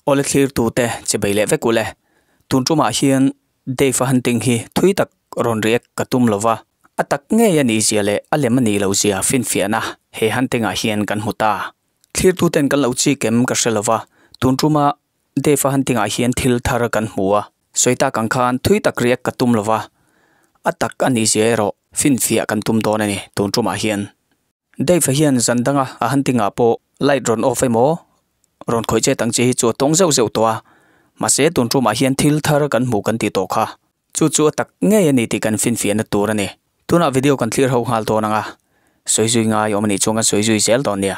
Aw le thlir tu te che bei leh vek u le. Tun ṭum ah hian Dave a han ting hi thui tak rawn riak ka tum lo va. A tak ngei a nih zia leh a lem a nih lo zia finfiah na he han ting ah hian kan hmu ta. Thlir tu ten kan lo chik em ka hre lo va, tun ṭum a Dave-a han tingah hian thil thar kan hmu a, sawi tak ang khan thui tak riak ka tum lo va, a tak a ni zia erawh finfiah kan tum dawn a ni tun tumah hian. Dave-a hian zan danga a han tingah pawh light rawn off emaw rawn khawih chet ang chi hi chu a tawng zeuh zeuh tawh a, mahse tun tumah hian thil thar kan hmu kan tih tawh kha chu chu a tak ngei a ni tih kan finfiah na tur a ni. Tunah video kan thlir ho nghal dawn ang a, sawi zui ngai awm a nih chuan kan sawi zui zel dawn nia.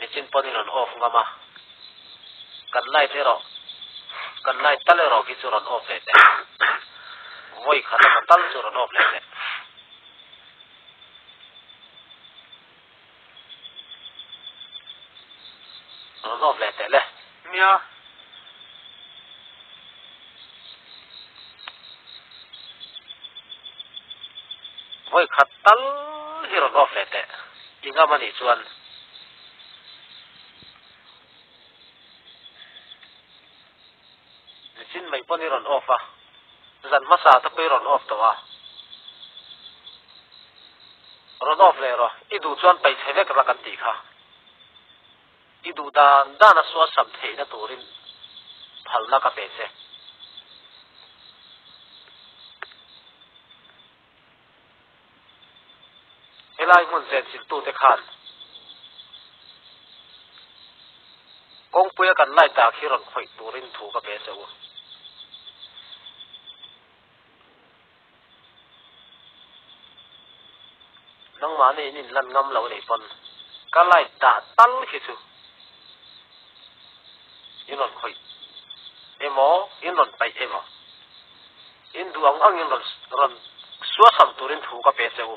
Nichin pawn in rawn off ngam a, kan light erawh kan light tal erawh khi chu rawn off leh teh, vawi khat emaw tal chu rawn off leh teh. Rawn off leh teh le. Nia. Vawi khat tal hi rawn off leh teh. I ngam a nih chuan. Ni chin mai pawn i rawn off a. Zan hmasa te pawh i rawn off tawh a. Rawn off leh rawh. I duh chuan pei chhe vek rak an tih kha. I duh dan dana sualsam theihna turin phalna ka pe che. Helai hmun zenchiltute khan kawngpuia kan light dak hi rawn khawih turin thu ka pe che u. Nangmahni in inlan ngam loh nei pawn ka light dah tal khi chu in rawn khawih emaw in rawn paih emaw in duh ang angin rawn suasam turin thu ka pe che u.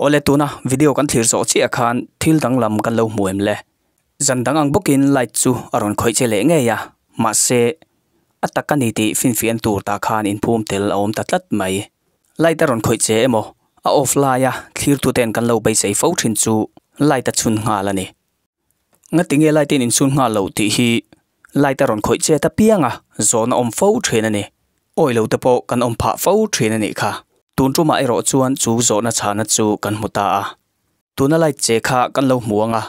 Awle tuna video kan thlir zawh chiah khan thil dang lam kan lo hmu em le? Zan dang ang bawkin light chu a rawn khawih che leh ngei a, mahse a tak a ni tih finfian tur tah khan inphum tel a awm ta tlat mai. Light a rawn khawih che emaw a off laia thlir tute an kan lo beisei fo thin chu light a chhun nghal a ni. Nga tinge light in insun nghal lo tih hi light a rawn khawih chet apiang a, zawn a awm fo thin a ni. Awi lo te pawh kan awm phah fo thin a nih kha. Tun tumah erawh chuan chu zawhna chhana chu kan hmu ta a. Tuna light che kha kan lo hmu ang a,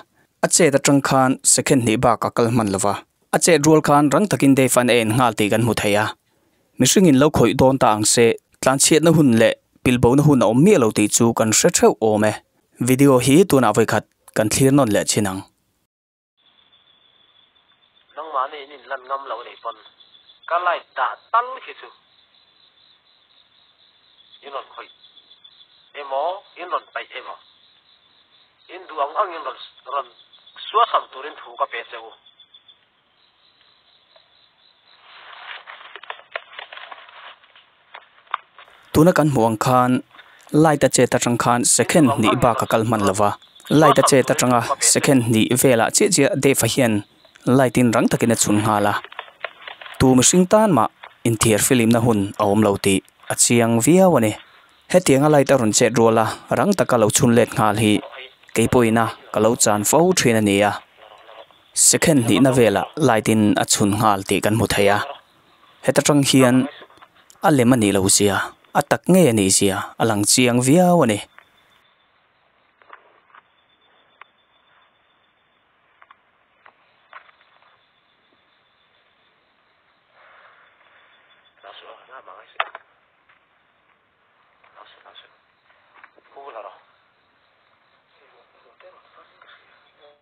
a chet atang khan second hnih bak a kal hman lo va. A chet rual khan rang takin Dave an en nghal tih kan hmu thei a. Mihringin lo khawih dawn ta ang se, tlanchhiatna hun leh pilhbona hun a awm miah lo tih chu kan hre theuh awm e. Video hi tunah vawi khat. kan thlir nawn leh chin ang. Nangmah nen in inlan ngam loh nei pawn ka light dah tal khi chu in rawn khawih emaw in rawn paih emaw in duh ang angin rawn suasam turin thu ka pe che u. Tuna kan hmuh ang khan light a chet atang khan second hnih bak a kal hman lo va light a chet atang a second hnih velah chiah chiah Dave a hian light in rang takin a chhun nghal a tu mihring tan mah inthiar filimna hun a awm lo tih a chiang viau a ni hetianga light a rawn chet rual a rang taka lo chhun let nghal hi kei pawhin a ka lo chan fo thin a ni a. Second hnihna velah light in a chhun nghal tih kan hmu thei a, heta tang hian a lem a nih lo zia, a tak ngei a nih zia a lang chiang viau a ni.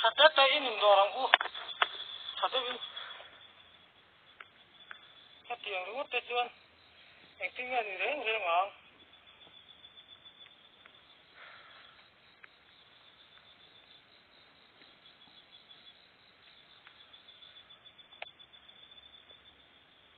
Tha ta ta in indawr ang u. Tha deuh in. Heti ang ringawt te chuan engtin nge a nih reng reng ang.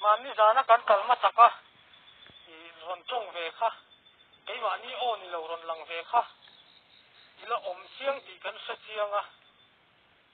Mah mi zan a kan kal machak a, i rawn tawng ve kha, keimahni aw ni lo rawn lang ve kha, ila awm chiang tih kan hre chiang a.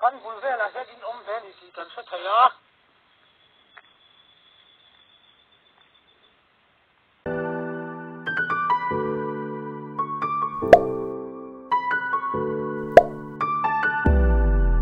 Kan bul velah hian in awm ve ni tih kan hre thei a.